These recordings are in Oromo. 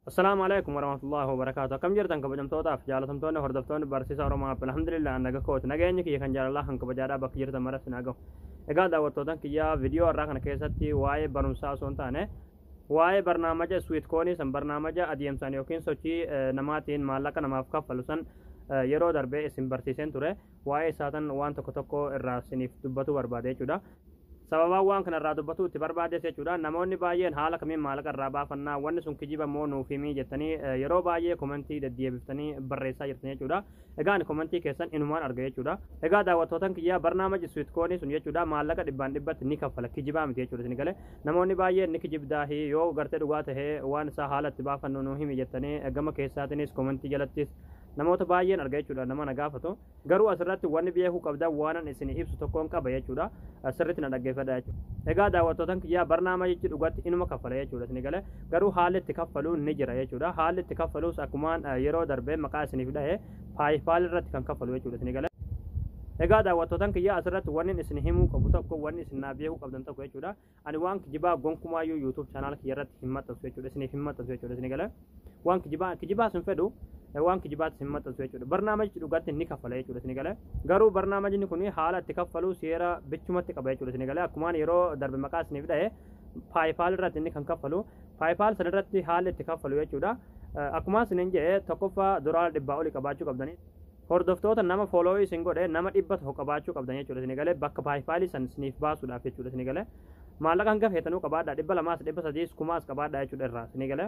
Assalaamu alaikum warahmatullahi wabarakaatu akkam jirtan kabajamtootaaf jaalatamtoonni hordoftoonni barsiisa oromoo app alhamdulillah an naga kooti nageenyi kiyya kan jaalalaa kan kabajaadhaa bakka jirtan mara sin hagahu egaa daawwattootan kiyyaa viidiyoo irraa kana keessatti waa'ee barumsaa osoo hin taane waa'ee barnaamaja swiit koonii san barnaamaja adeemsaan yookiin sochii namaatiin maallaqa namaaf kaffalu san yeroo darbee isin barsiiseen ture waa'ee isaatan waan tokko tokko irraa isiniif dubbatu barbaade jechuudha Sababaan waan kana irraa dubbatuu itti barbaadees jechuudha. Namoonni baay'een haala kamiin maallaqa irraa baafannaa, wanni sun kijiba moo nuuf himii jettanii yeroo baay'ee komentii deddeebiftanii barreessaa jirtan jechuudha. Egaa ani komentii keessan inumaan arga jechuudha. Egaa daawwattootan kiyyaa barnaamaji suitkoonii sun jechuudha maallaqa dhibbaan dhibbatti ni kaffala kijibaa miti jechuudha isin galee. Namoonni baay'een ni kijibdaahi yoo gartee dhugaa tahee waan isaa haala itti baafannu nuu himi jettanii gama keessaatinis komentii jalattis namoota baay'een arga jechuudha nama na gaafatu. Garuu asirratti wanni beekuu qabdan waanan isinii ibsu tokkoon qaba jechuudha. Sirriitti na dhaggeeffadha jechuudha. Egaa daawwattootan kiyyaa barnaamajichi dhugatti inuma kaffala jechuudha isinii galee garuu haalli itti kaffalu ni jira jechuudha. Haalli itti kaffaluus akkumaan yeroo darbee maqaa isiniif dhahee paayipaal irratti kan kaffalu jechuudha isinii galee. Egaa daawwattootan kiyyaa asirratti wanni isin himuu qabu tokko wanni isin naa beekuu qabdan tokko jechuudha. Ani waan kijibaa gonkumaayyuu YouTube channel kiyya irratti hin maxxansu jechuudha. Isiniif hin maxxansu jechuudha isin galee. Waan kijibaa kijibaas hin fedhu eh, waan kijibaatis hin maxxansu jechuudha. Barnaamijni dhugaatti ni kaffala jechuudha isin galee. Garuu barnaamijni kun haala itti kaffalu seera bichumatti qaba jechuudha isin galee. Akkumaan yeroo darbe maqaa isiniif dhahe paayipaal irratti inni kan kaffalu paayipaal sana irratti haalli itti kaffalu jechuudha. Eh, Akkumaan isiniin jedhe tokkoffaa dolaara dhibbaa olii qabaachuu qabdanii. Hordoftoota nama follow isin godhe nama dhibba tokko qabaachuu qabdan jechuudha isin galee bakka paayipaalii san isiniif baasuudhaaf jechuudha isin galee maallaqa hanga feetanuu qabaadhaa dhibba lamaas dhibba sadiis kumaas qabaadhaa jechuudha irraa isin galee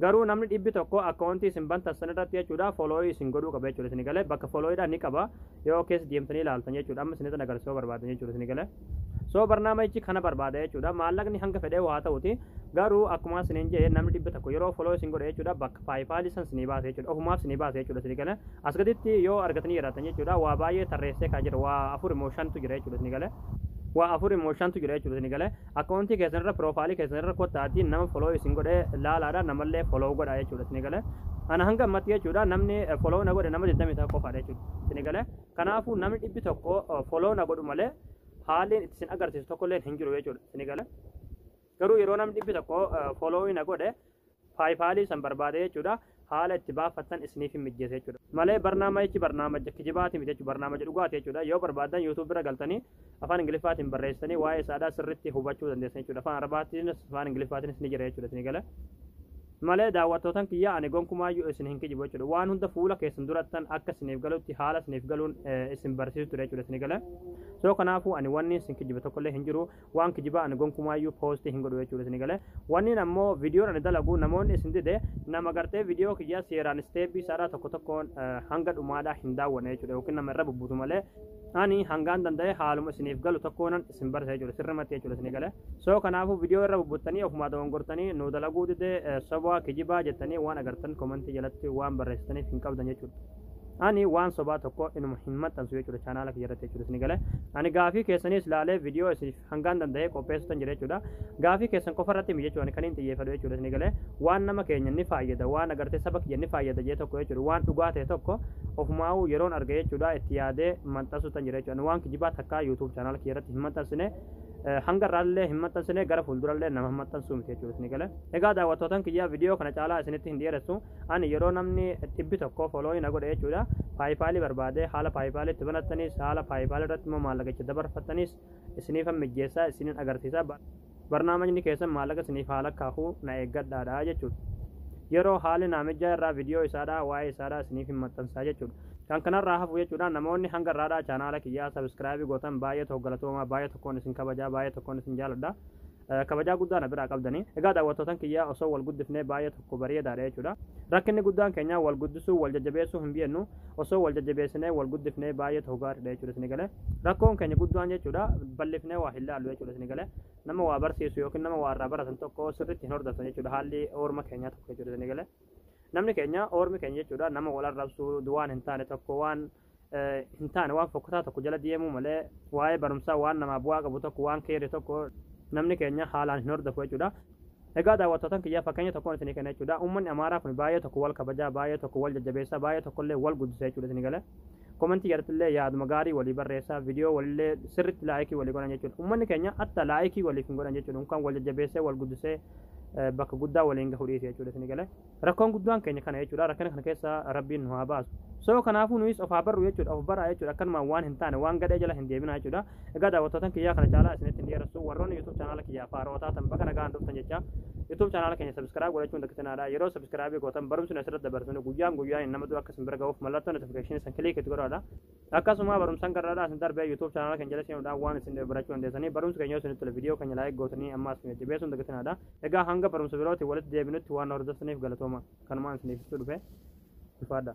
garuu namni dhibbi tokko akkaawuntii isin bantan san irratti jechuudha follow isin godhuu qaba jechuudha isin galee bakka follow dhaan ni qaba yoo keessa deemtanii ilaaltan jechuudha amma isinitti agarsiisuu barbaadan jechuudha isin galee So barnaamajichi kana barbaada jechuudha. Maallaqni hanga fedhee waa ta'uti. Garuu akkuma isiniin jedhe namni dhibba tokko yeroo follow isin godhe jechuudha bakka paayipaalii san isinii baasa jechuudha. Ofumaaf isinii baasa jechuudha isinii gale. As gaditti yoo argatanii jiraatan jechuudha waa baay'ee tarreessee kaa jira waa afur immoo shantu jira jechuudha isinii gale. waa afur immoo shantu jira jechuudha isinii gale. Akkaawuntii keessan irra piroofaayilii keessan irra kottaatii nama follow isin godhe laalaadha namallee follow godha jechuudha isinii gale. Ana hanga ammatti jechuudha namni follow na godhe nama 21 qofaadha jechuudha isinii gale. Kanaafuu namni dhibbi tokko follow na godhu malee haalliin itti isin agarsiisu tokkolleen hin jiru jechuudha. Isinii gala. Garuu yeroo namni dhibbi tokko follow na godhe paayipaalii san barbaade jechuudha. Haala itti baafattan isiniif hin mijjeessa jechuudha. Malee barnaamayichi barnaamaja kijibaati miti jechuudha. Barnaamaja dhugaati jechuudha. Yoo barbaaddan yuutuubii irra galtanii afaan ingiliffaatiin barreessitanii waa'ee isaadhaa sirriitti hubachuu dandeessan jechuudha afaan arabaatiinis afaan ingiliffaatiinis ni jira jechuudha isin gala malee daawwattootan kiyya ani gonkumaayyuu isin hin kijibu jechuudha waan hunda fuula keessan durattan akka isiniif galutti haala isiniif galuun isin barsiisu ture jechuudha isin gala soo kanaafuu ani wanni isin kijiba tokkollee hin jiru waan kijibaa ani gonkumaayyuu poostii hin godhu jechuudha isin gala wanniin ammoo viidiyoon ani dalagu namoonni isin dide nama gartee viidiyoo kiyya seeraan isteeppii isaadhaa tokko tokkoon hanga dhumaadhaa hin daawwanne jechuudha yookiin nama irra bubbutu malee ani hangaan danda'e haaluma isiniif galu tokkoonan isin barsiisaa jechuudha sirrimatti jechuudha isinii galee soo kanaafuu viidiyoo irra bubbuttanii ofumaa dogongortanii nu dalaguu didee eh, sobaa kijibaa jettanii waan agartan komantii jalatti waan barreessitaniif hin qabdan jechuudha ani waan sobaa tokko inuma hin maxxansu jechuudha chaanaala kiyya irratti jechuudha isinii galee ani gaafii keessaniis laalee viidiyoo isiniif hangaan danda'e qopheessutan jira jechuudha. Gaafii keessan qofa irratti miti jechuudha kan hin xiyyeeffadhu jechuudha isin galee waan nama keenya ni faayyada waan agartee saba kiyya ni faayyada jee tokko jechuudha waan dhugaa ta'e tokko ofumaa'uu yeroon arge jechuudha itti yaadee maxxansutan jira jechuudha waan kijibaa takkaa YouTube channel kiyya irratti hin maxxansine hanga irraallee hin maxxansine gara fuuldurallee nama hin maxxansuu miti jechuudha isin galee egaa daawwattootan kiyya viidiyoo kana caalaa isinitti hin dhiyeessu ani yeroo namni dhibbi tokko fooloo na godhe jechuudha paayipaalii barbaadee haala paayipaaliitti banattanis haala paayipaalii irratti immoo maallaqicha dabarfattanis isiniifan mijjeessaa isinin agarsiisa barnaamajni keessan maallaqa isiniif haa lakkaa'u na eeggadhaadha jechuudha. Yeroo haalli naamijjaa irraa viidiyoo isaadhaa waa'ee isaadhaa isiniif hin maxxansaa jechuudha. Kan kanarraa hafu jechuudha namoonni hanga irraadhaa chaanaala kiyyaa sabiskiraabii gootan baay'ee tokko galatoomaa baay'ee tokkoon isin kabajaa baay'ee tokkoon isin jaaladha. Kabajaa guddaa na biraa qabdani. Egaa daawwattootan kiyyaa osoo wal guddifnee baay'ee tokko bareedaadha jechuudha. Rakkinni guddaan keenyaa wal guddisuu wal jajjabeessuu hin beennu. Osoo wal jajjabeessinee wal guddifnee baay'ee tokko gaariidha jechuudha isin galee. Rakkoon keenya guddaan jechuudha bal'ifnee waa hin laallu jechuudha isin galee. Nama waa barsiisu yookiin nama waa irraa baratan tokko sirriitti hin hordoftan jechuudha haalli oorma keenyaa tokko jechuudha isin galee. Namni keenya oormi keenya jechuudha nama wal arrabsu waan hin taane tokko waan hin taane waan fokkataa tokko jala deemuu malee waa'ee barumsaa waan namaa bu'aa qabu tokko waan keerri tokko namni keenya haalaan hin hordofu jechuudha. Egaa daawwattootan kiyyaa fakkeenya tokkoon isinii kenna jechuudha. Uummanni Amaaraa kun baay'ee tokko wal kabajaa, baay'ee tokko wal jajjabeessaa, baay'ee tokkollee wal guddisa jechuudha isinii galee. Komentii jallattillee yaaduma gaarii walii barreessaa, viidiyoo walillee sirriitti laayikii walii godhan jechuudha. Uummanni keenya atta laayikii waliif hin godhan jechuudha. Kan wal jajjabeessee, wal guddisee bakka guddaa waliin gahuu dhiise jechuudha isinii galee. Rakkoon guddaan keenya kana jechuudha. Rakkina kana keessa Rabbiin nu haa baasu. So kanaafuu nuyis of haa barru jechuudha. Of baraa jechuudha. Akkanumaan waan hin taane waan gadhee jala hin deebinaa jechuudha. Egaa daawwattootan kiyyaa kana caalaa isinitti hin dheeressu. Warroonni YouTube chaanaala kiyyaa faarootaa tan baga nagaan dhuftan jecha YouTube chaanaala keenya subscribe godhachuun dakkisinaadha. Yeroo subscribe gootan barumsi asirratti dabarsinu guyyaan guyyaan nama dura akka isin bira ga'uuf mallattoon notification isin click itti godhaadha. Akkasuma barumsan garraadhaa isin darbee YouTube channel keenya jala seenuudhaan waan isin dhibe barachuu dandeessanii barumsi keenya yoo isinitti tole video keenya like gootanii ammaas nu jajjabeessuun dagatinaadha. Egaa hanga barumsa birootiin walitti deebinutti waan hordoftaniif galatooma kanumaan isiniif ibsuu dhufe ifaadha.